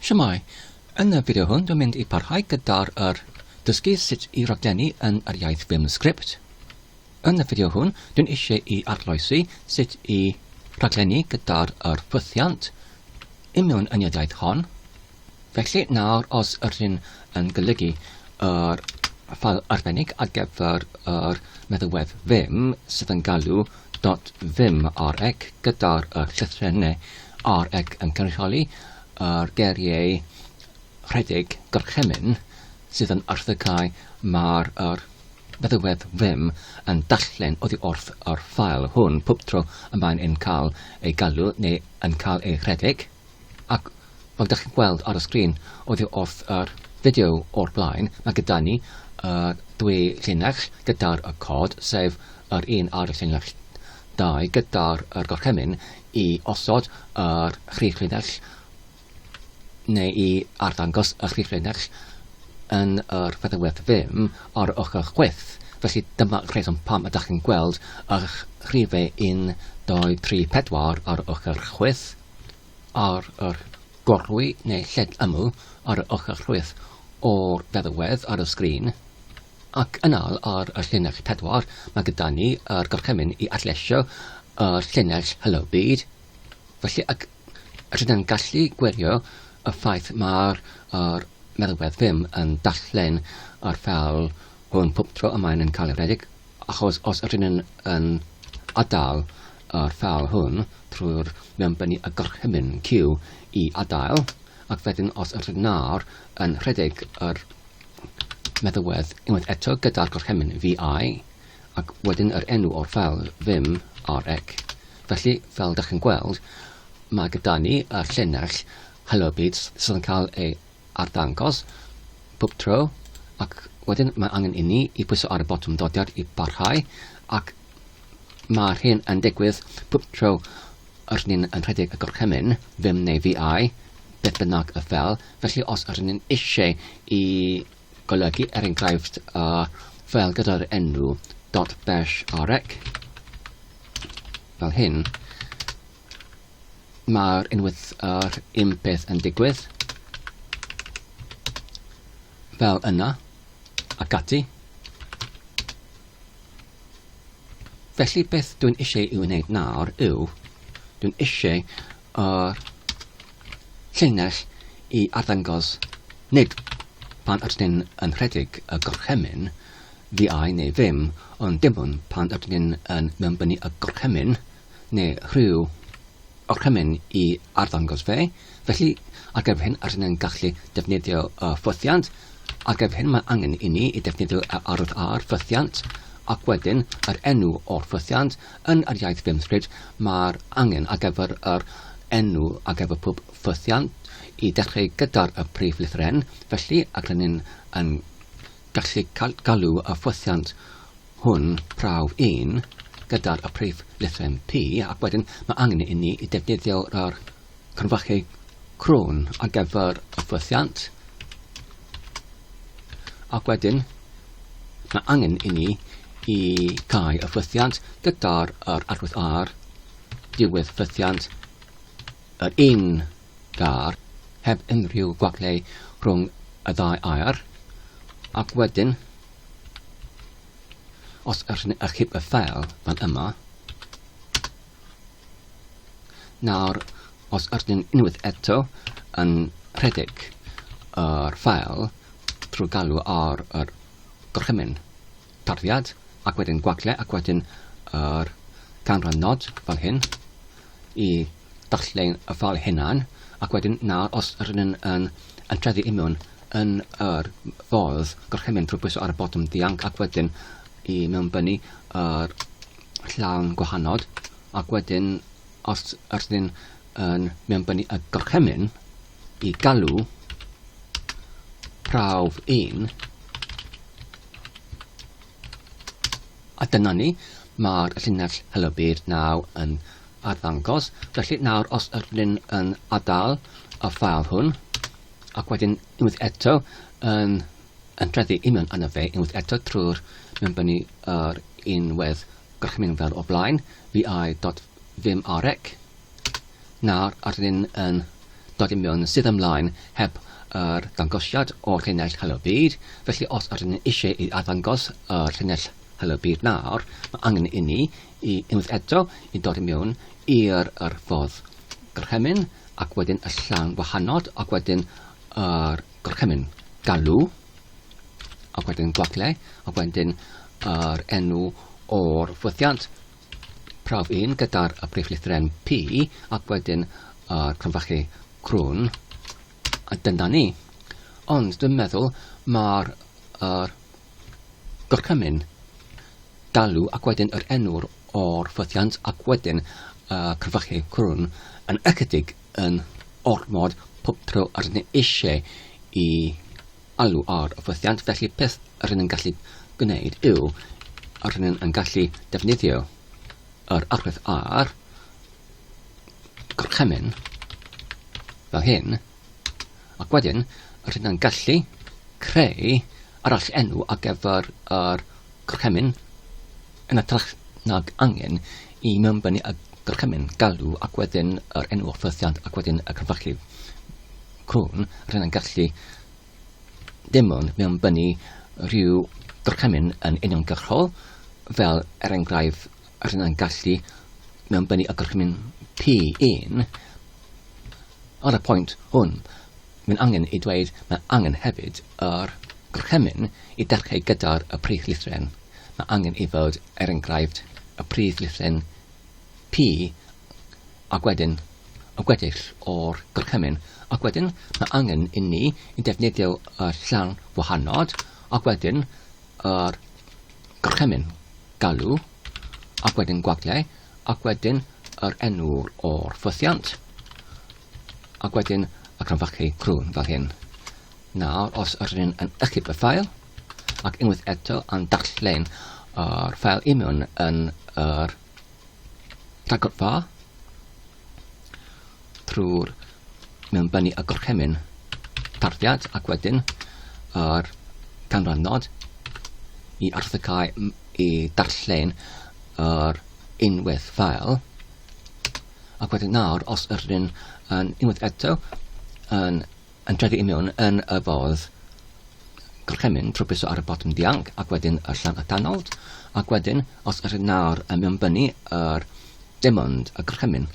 Shwmae! Yn y fideo hwn dwi'n mynd i parhau gyda'r yr dysgu sut i raglennu yn yr iaith Vim Script. Yn y fideo hwn dwi'n eisiau i arloesi sut i raglennu gyda'r yr ffwythiant i mewn yn yr iaith hon. Felly nawr os yr hyn yn golygu yr ffael arbennig ar gyfer yr meddalwedd Vim sydd yn galw Does dim ar ec gyda'r y llythrenne ar ec yn cynrychioli yr geiriau rhedeg gorchymyn sydd yn erthygau mae'r yr feddywedd ddim yn darllen oddi wrth yr ffael hwn pob tro y mae'n yn cael ei galw neu yn cael ei rhedeg. Ac fel dach chi'n gweld ar y sgrin oddi wrth yr fideo o'r blaen, mae gyda ni y dwy llinell gyda'r y cod, sef yr un ar y llinell 2 gyda'r y gorchymyn i osod yr chri llinell neu i arddangos y chri llinell yn yr feddygfedd ddim ar y ochr chwith. Felly dyma rheswm pam ydych chi'n gweld y rhifau 1, 2, 3, 4 ar y ochr chwith. ar yr gorwy neu lled ymyl ar y ochr chwith o'r feddwedd ar y sgrin, ac yna'r ar y llinell pedwar mae gyda ni yr gorchymyn i adleisio y llinell Hello Byd. Felly ac rydyn gallu gwirio y ffaith mae'r er meddwedd ddim yn darllen yr fel hwn pob tro y mae'n yn cael ei redeg. Achos os ydyn ni yn adael yr ffael hwn trwy'r mewnbennu y gorchymyn cyw i adael, ac wedyn os ydyn nawr yn rhedeg yr meddywedd unwaith eto gyda'r gorchymyn vi, ac wedyn yr enw o'r ffael vim rec. Felly, fel dych chi'n gweld, mae gyda ni y llinell Hello Beats sydd yn cael ei arddangos pob tro ac wedyn mae angen inni i pwyso ar y botwm dodiad i barhau ac mae'r hyn yn digwydd pob tro yr ni'n yn rhedeg y gorchymyn, ddim neu VI, beth bynnag y fel, felly os yr ni'n eisiau i golygu er enghraifft y fel gyda'r enw .bash arec fel hyn, Mae'r unwaith yr un peth yn digwydd, fel yna, ac ati. Felly beth dwi'n eisiau i'w wneud nawr yw, dwi'n eisiau yr llinell i arddangos nid pan ydyn ni'n yn rhedeg y gorchymyn, fi ai neu ddim, ond dim ond pan ydyn ni'n yn mewnbynnu y gorchymyn, neu rhyw orchymyn i arddangos fe, felly ar gyfer hyn rydyn yn gallu defnyddio y ffwythiant. Ar gyfer hyn mae angen i ni i defnyddio y arwydd ar ffwythiant ac wedyn yr enw o'r ffwythiant. Yn yr iaith Vimscript mae'r angen ar gyfer yr enw ar gyfer pob ffwythiant i dechrau gyda'r y prif lythyr N, felly ac rydyn yn gallu galw y ffwythiant hwn, prawf un, gydag y prif lythryn P, ac wedyn mae angen i ni i defnyddio'r ar cronfachu crwn ar gyfer y ffwythiant, ac wedyn mae angen i ni i cael y ffwythiant gyda'r yr arwydd ar diwedd ffwythiant yr un gar heb unrhyw gwaglau rhwng y ddau air, ac wedyn Os ydych chi'n achub y ffeil fel yma, nawr os ydych chi'n unwaith eto yn rhedeg yr ffeil trwy galw ar yr gorchymyn tarddiad ac wedyn gwagle ac wedyn yr canran nod fel hyn, i ddarllen y ffeil hunan ac wedyn nawr os rydyn ni'n yn antrefi i mewn yn yr ffordd gorchymyn drwy bwyso ar y botwm ddianc ac wedyn i mewnbynnu yr llawn gwahanol ac wedyn os rydyn ni'n yn mewnbynnu y gorchymyn i galw prawf 1 A dyna ni, mae'r llinell Helo Byd naw yn arddangos. Felly nawr os ydw i'n yn adael y ffael hwn, ac wedyn unwaith eto yn entreddu union yna fe, unwaith eto trwy'r mewnbynnu yr unwedd gorchymyn fel o blaen, vi.vimrec, Nawr rydyn ni yn dod i mewn sydd ymlaen heb yr dangosiad o'r llinell Helo Byd, felly os rydyn ni eisiau i arddangos yr llinell Helo Byd nawr, mae angen i ni i unwaith eto i dod i mewn i'r yr ffordd gorchymyn ac wedyn y llan wahanol ac wedyn yr gorchymyn galw ac wedyn gwagle ac wedyn yr enw o'r ffwythiant Prawf un gyda'r briflithren P ac wedyn yr cromfachu crwn. A dyna ni. Ond dwi'n meddwl mae'r er, gorchymyn galw ac wedyn yr enw'r o'r ffythiant ac wedyn y cromfachu crwn yn ychydig yn ormod pob tro yr ni eisiau i alw ar fythiant felly peth rŷn yn gallu gwneud yw rŷn yn gallu defnyddio yr arwydd ar gorchymyn fel hyn ac wedyn rŷn yn gallu creu arall enw ar gyfer yr gorchymyn yn ytrach nag angen i mewnbynnu y gorchymyn galw ac wedyn yr enw o'r ffythiant ac wedyn y cyfrachlu Cŵn, rhyn yn gallu dim ond mewnbynnu rhyw gorchymyn yn uniongyrchol, fel er enghraifft rhyn yn gallu mewnbynnu y gorchymyn P1. Ar y pwynt hwn, mae'n angen i dweud mae angen hefyd yr gorchymyn i darcheu gyda'r y prif lythren. Mae angen i fod, er enghraifft, y prif lythren P, Ac wedyn, y gweddill o'r gorchymyn. Ac wedyn, mae angen i ni i defnyddio y llan wahanod, ac wedyn yr gorchymyn galw, ac wedyn gwagliau, ac wedyn yr enw o'r ffwythiant, ac wedyn y crynfachu crwn fel hyn. Nawr, os ydyn ni'n ychydig y ffael, ac unwaith eto yn darllen yr ffael union yn yr rhagorfa trwy'r mewnbynnu y gorchymyn tarddiad ac wedyn yr canrannod i arthygau i darllen yr unwaith ffael ac wedyn nawr os yr yn unwaith eto yn Yn trefi i mewn yn y ffordd gorchymyn trwy pwyso ar y botwm dianc ac wedyn y llan atanod ac wedyn os ydych nawr yn mewnbynnu yr demond y gorchymyn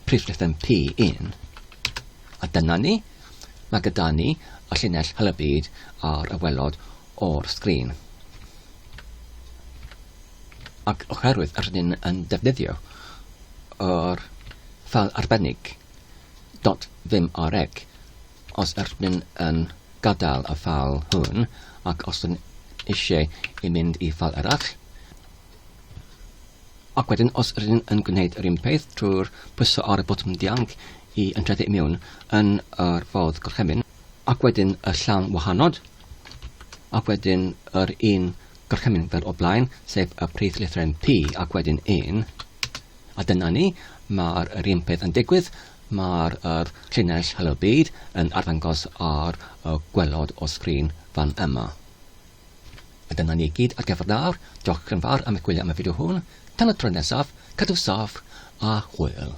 prif rhifyn P1 a dyna ni mae gyda ni y llinell hel y byd ar y welod o'r sgrin ac oherwydd rydyn yn defnyddio yr ffal arbennig Dot ddim ar ec. Os ych chin yn gadael y ffal hwn ac os yn eisiau i mynd i ffal arall, ac wedyn os ych chin yn gwneud yr un peth trwy'r pwyso ar y botwm dianc i ymtrethu i miwn yn yr ffordd gorchymyn, ac wedyn y llawn wahanod, ac wedyn yr un Gorchymyn fer o blaen, sef y prif lythryn P ac wedyn un. A dyna ni, mae'r yr un peth yn digwydd, mae'r yr llinell Hello Byd yn arddangos ar y gwelod o sgrin fan yma. A dyna ni gyd ar gyfer nawr, diolch yn fawr am eich gwylio am y fideo hwn, tan y tro nesaf, cadw saff a hwyl.